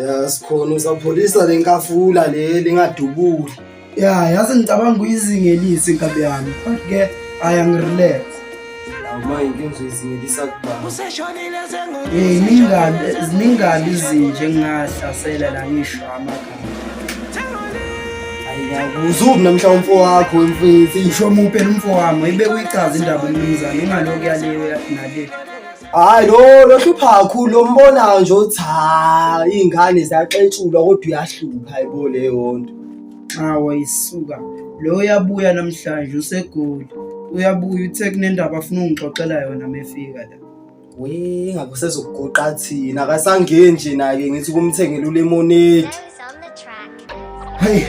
ya sikhona usapholisa le nkafula le lingadubuli ya yazi ngicabanga ukuyizingelisa inkabi yami but ke ayangirelax uma inkinga uzoyizingelisa kubani um ziningani izinje ngingahlasela la ngisho amagama uzubi namhla umfo wakho mfethu isho muphe lomfo wami ibe kuyichaza indaba umnumzane ingaloku yaleyo nale Hayi lo lohlupha kakhulu lombonayo nje uthi ha ingane ziyaxetshulwa kodwa uyahlupha hayibo leyo nto. Hawa isuka. Lo uyabuya namhlanje usegoli. Uyabuya uthe kunendaba afuna ungixoxela yona mefika la. We ngabe usezokugoqa thina akasangeni nje naye ngithi kumthengela ulemonade. Hey,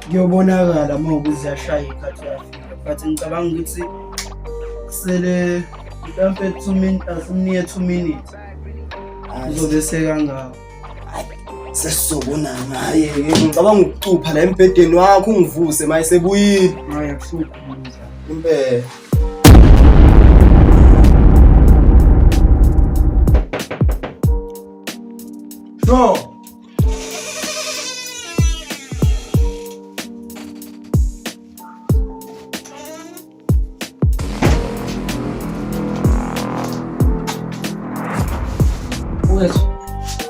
kuyobonakala uma ukuthi ziyashaya ikhathi yafika but ngicabanga ukuthi kusele mhlampe two minutes asimniye two minutes uzobe sekangako sesizobonana hayi ngicabanga ukucupha la embhedeni wakho ungivuse maye sebuyile hayi akuhluphi impela Sure.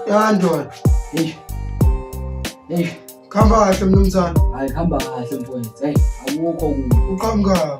Yandon. Eish. Eish. Khamba kahle mnumzane. Hayi khamba kahle mfowethu. Hey, akukho kubi. Uqhamuka.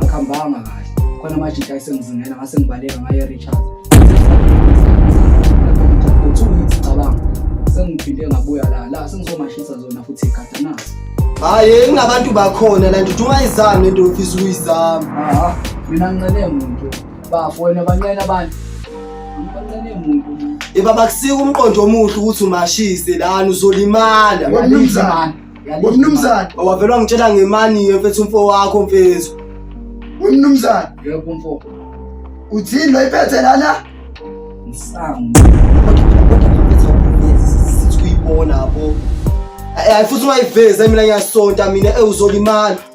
Akumbanga kahle. Khona manje nje ayisengizingela ngase ngibaleka ngaye Richard. Uthi ngicabanga sengiphinde ngabuya la la sengizomashisa zona futhi igada nazo. Hayi ingabantu bakhona la nje uthi ungayizami into ofisa ukuyizama. Aha mina ngincele muntu. bafo wena banqena abantu banqene muntu yeba bakusika umqondo omuhle ukuthi umashise lana uzolimala wemnumzane wemnumzane wavela wangitshela ngemani mfethu umfo wakho mfethu wemnumzane yebo umfo uthini lo iphethe lana ngisangu sithuyibona bo eh, eh, futhi ungayivezi mina ngiyasonta mina ewuzolimala eh,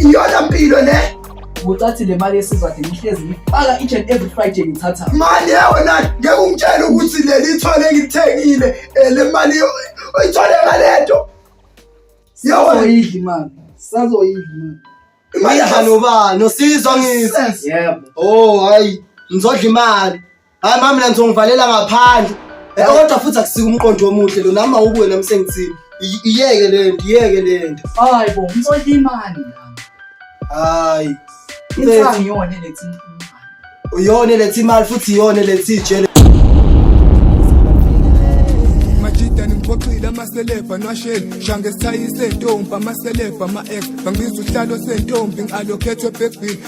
iyona mpilo le ngocathi le mali yesizathu ngihlezi ngifaka each and every friday ngithatha mali yona ngeke ungitshele ukuthi leli ithole ngithengile eh, le mali oyithole ngalento sazoyidli mali sazoyidli mali imali nobani osizwa ngithi yebo oh hayi ngizodla imali Hayi mama mina ngizongivalela ngaphandle. Eh kodwa futhi akusike umqondo omuhle lo nami awukuwe nami sengithini. I- Iyeke le nto, iyeke le nto. Hayi bo, ngithola imali nami. Hayi. Insangu iyona eletha imali. Uyona eletha imali futhi iyona eletha ijele. majida nimxoxile amaselebha nwasheni shange sithayise ntombi amaselebha ama-ex bangibiza uhlalo sentombi ngi-alokhethwe ebhebhini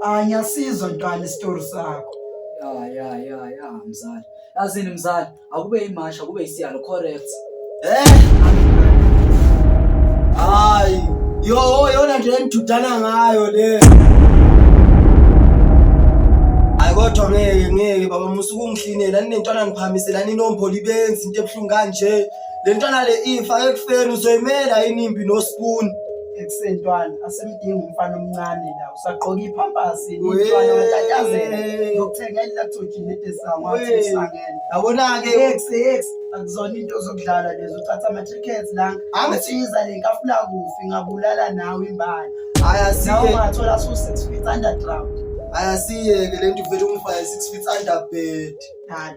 Hayi ngiyasizwa ntwana isitori sakho. Ya ya ya ya mzali. Yazini mzali, akube imasha kube isiyalo correct. Eh? Hayi, yo yona nje engidudana ngayo le. Hayi kodwa ngeke ngeke baba musuku ungihlinela ninentwana niphamisela ninomboli benzi into ebuhlungu kanje. Le ntwana le ifa ekufeni uzoyimela yini impi nospoon. ekusentwana asimdingi umfana omncane la usagqoka iphampasi Wee. intwana watatazela yokuthenga ilactogen nedesango wathi Wee. usangene Yabona-ke ex ex akuzona into zokudlala lezo uthatha ama-tickets la angithiza le nkafula kufi ngabulala nawe imbala hhayi nawe asike ungathola su-six feet underground hhayi asiyeke le nto ivele umfaya six feet under bed dala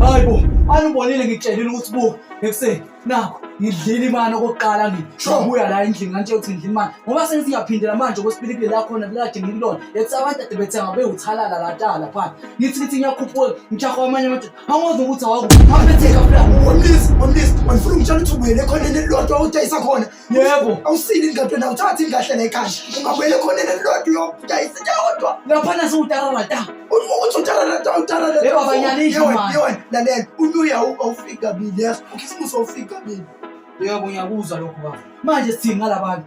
Hayibo, anubonile ngitshelile ukuthi buka ekuseni nakho ngidlile imali okokuqala ngibuya la endlini ngantshela ukuthi ngidlile imali ngoba sengisingaphindela manje okwesipilipili lakhona kukade ngikulona ethi abantu ade bethenga bewuthalala latala phaa ngithi ngithi ngiyakhuphuka ngijahwa amanye amadoda angozi ukuthi awakuphaphetheka fla omlisi omlisi wandifuna ungitshela ukuthi ubuyele khona enelilodwa udayisa khona yebo awusile ingado na uthatha ingahle la ekhaya ungabuyela ekhoneni elilodwa uyodayisa yodwa laphana siwutararata uthi utararata utararata yebo abanyana indlu manje yebo lalela unyuya awufika kabili yazi ukhisimusi awufika kabili yebo ngiyakuzwa lokho baba manje sithini ngalabantu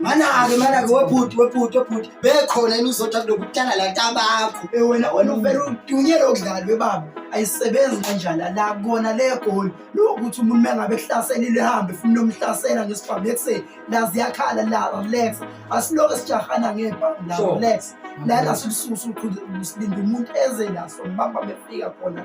manake manake webhuti webhuti webhuti bekhona yini uzotha kulokutana la tabakho eh, wena wena uvele udunyele okudlala webaba ayisebenzi kanjani la kona le goli lokuthi umuntu mengabe ehlaselile hambe funa nomhlasela ngesibhamu ekuseni la ziyakhala la relax asiloke sijahana ngebhamu la relax lana silisusa uqhude usilinde umuntu eze naso mbamba befika khona